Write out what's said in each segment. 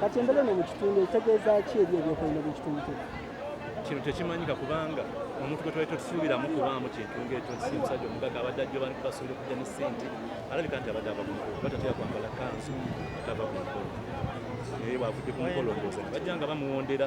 kati embera eno mu kitundu etegeeza ki eri ebyokwerinda byekitundu kye kino tekimanyika kubanga omuntu gwe twali totusuubiramu kubaamu kintu ngaekyo nsi musajja omugaga abadde ajjo bantu basuubira okujja ne sente alabika nti abadde ava ku mukolo oba tatera kwambala kanzu atava ku mukolo naye bwavudde ku mukolo ndooza bajja nga bamuwondera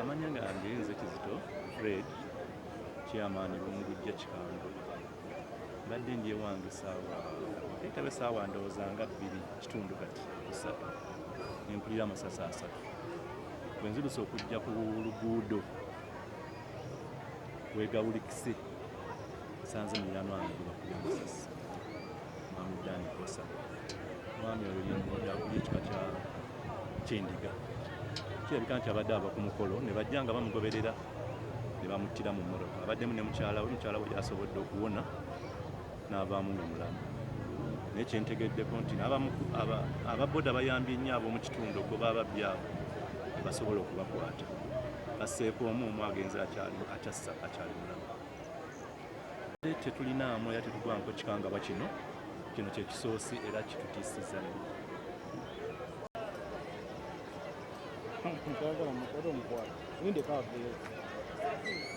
amanya gange nze kizito fred chairman lumugujja kikando mbadde ndi ewange saawa etaba esaawa ndowooza nga bbiri kitundu kati kusatu nempulira amasasi asatu bwenziruse okujja ku luguudo wegawulikise nsanze mulirano wange gwebakuba amasasi mwami dani kosa mwami oyo yakuba ekika kyendiga kirabika nti abadde ava ku mukolo ne bajja nga bamugoberera ne bamuttira mu mmotoka abaddemu ne mukyala we mukyala we yasobodde okuwona n'avaamu nga mulamu naye kyentegeddeko nti ababoda bayambye nnyo ab'omu kitundu okuba ababbi abo basobola okubakwata baseeko omu omu agenzi akyassa akyali mulamu tetulinaamu era tetugwanko kikangabwa kino kino kyekisoosi era kitutiisiza nyo Thank you.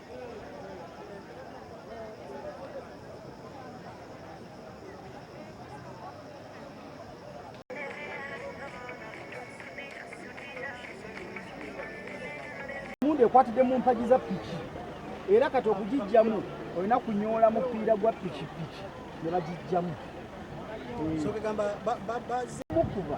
emundu ekwatidde mu mpagi za piki era kati okugijjamu olina kunyoola mupiira gwa pikipiki ne bagijjamu mukuba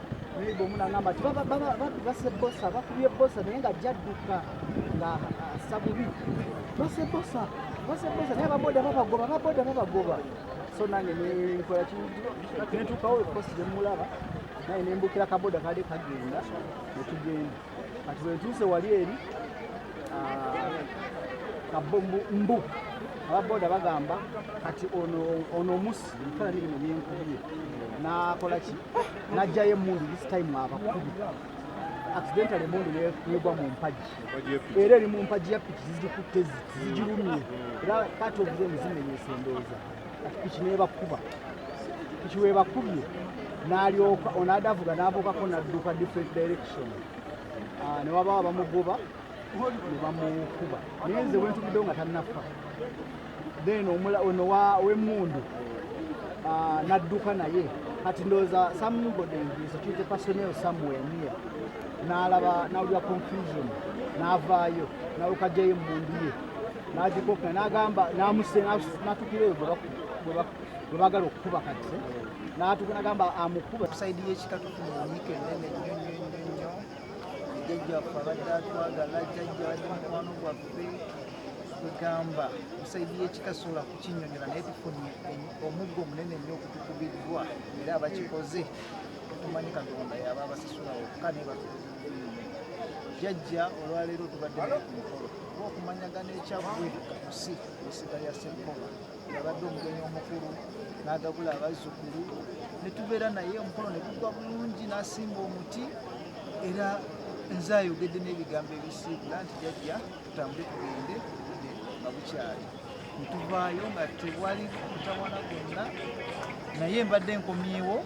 neiba omu nangamba nti babase bosa bakubye bosa naye nga jadduka nga assa bubi base bosa base bosa naye ababoda babagoba ababoda babagoba so nange nenkola kinentuukawo ekosi nemulaba naye nembukira kaboda kali kagenda netugenda kati bwentuuse wali eri ah, mbu ababoda bagamba kati ono omusi ebifaana biri mu byenkubye nakola ki najjayo emundu this time abakubi accidental emundu negwa mu mpagi era eri mu mpagi ya piki zizikutte zigirumye era kati obuze muzimenyesa endooza piki nebakuba piki webakubye nalyoka onadavuga navukako nadduka different direction ah, newabawo bamugoba nebamukuba naye nze wentubiddewo nga tanafa then ono wemundu ah, nadduka naye kati ndowooza somebody security personnel somewhere near nalaba nawulira confusion navaayo nawe kajayo emundu ye n'agikokka n'agamba n'amusse n'atukira eyo bwe bagala okukuba kati n'atuka n'agamba amukuba saidi y'ekika tufuna emyika enene nnyo nnyo nnyo nnyo jjajjaffe abadde atwagala jjajja abadde mukwano gwaffe kwegamba saidi y'ekika sobola kukinyonyola naye tufunye omuggo omunene nnyo okutukubiddwa era abakikoze tumanyi katonda yaba abasasula wokka nebatukuziddwa jjajja olwaleero tubadde naye ku mukolo okumanyagana ekyaggwe ku si esiga ya ssenkoba yabadde omugenyi omukulu n'agabula abazzukulu ne tubeera naye omukolo ne gugwa bulungi n'asimba omuti era nze ayogedde n'ebigambo ebisiibula nti jajja tutambule tugende obudde nga bukyali ntuvaayo nga tewali mutawana gwonna naye mbadde nkomyewo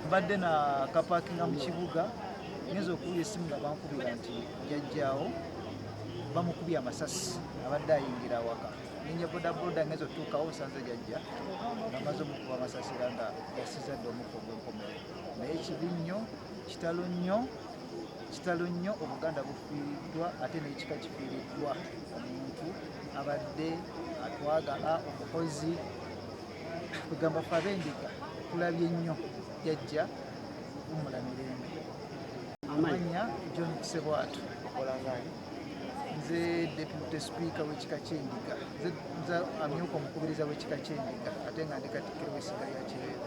mbadde na kapakinga mu kibuga ngenza okuwula esimu nga bankubira nti jajjaawo bamukubye amasasi abadde ayingira awaka ninye bodaboda ngezo tuukawo nsanze jajja bamaze omukuba amasasi era nga yasiza dde omukka ogwenkomerero naye ekibi nnyo kitalo nnyo kitalo nnyo obuganda bufiiriddwa ate n'ekika kifiiriddwa omuntu abadde atwagala omukozi kugamba fe abendiga tulabye nnyo jajja umula mirembe amannya john kusebwatu nze deputy speaker wekika kyendiga nze amyuka omukubiriza wekika kyendiga ate nga ndi katikkiro w'essiga lya kireevu